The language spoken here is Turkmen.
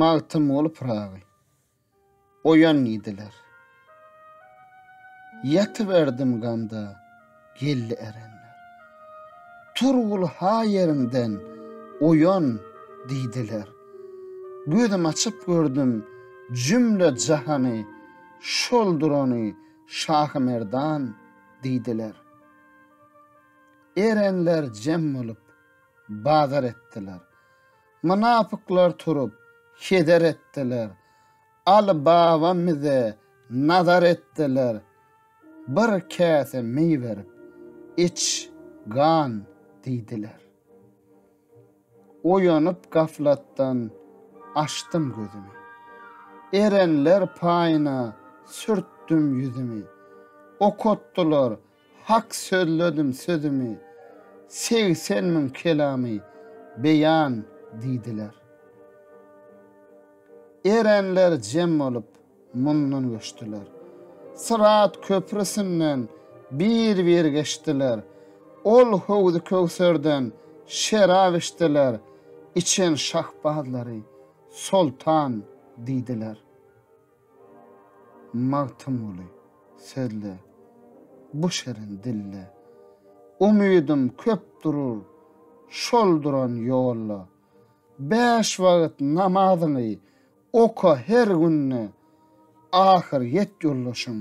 Magtymguly Pyragy. Oýan diýdiler. Ýatyberdim gamda, geldi erenler. Turgul ha ýeriňden oýan diýdiler. Gözüm açyp gördüm jümle jahany, şol durany Şahymerdan diýdiler. Erenler jem bolup, bazar etdiler. Mynapyklar turup, heder etdiler. Aly baba mize nazar etdiler. Bir käse meý berip, iç, gan diýdiler. Oýanyp gaflatdan, açdym gözümi. Erenler paýyna sürtdüm ýüzümi. Okatdylar, Hak sözledim sözümi, segsen müň kelamy beýan diýdiler. Erenler jem bolup, mundan göçdiler. Syrat köprüsinden bir-bir geçdiler. Ol Howzy Köwserden şerap içdiler, içen şahbazlary Soltan diýdiler. Magtymguly, sözle, bu şirin dilde. Umydym köp durur şol duran ýolda. Bäş wagt namazyňy oka her günde. Ahyr ýet ýoldaşyň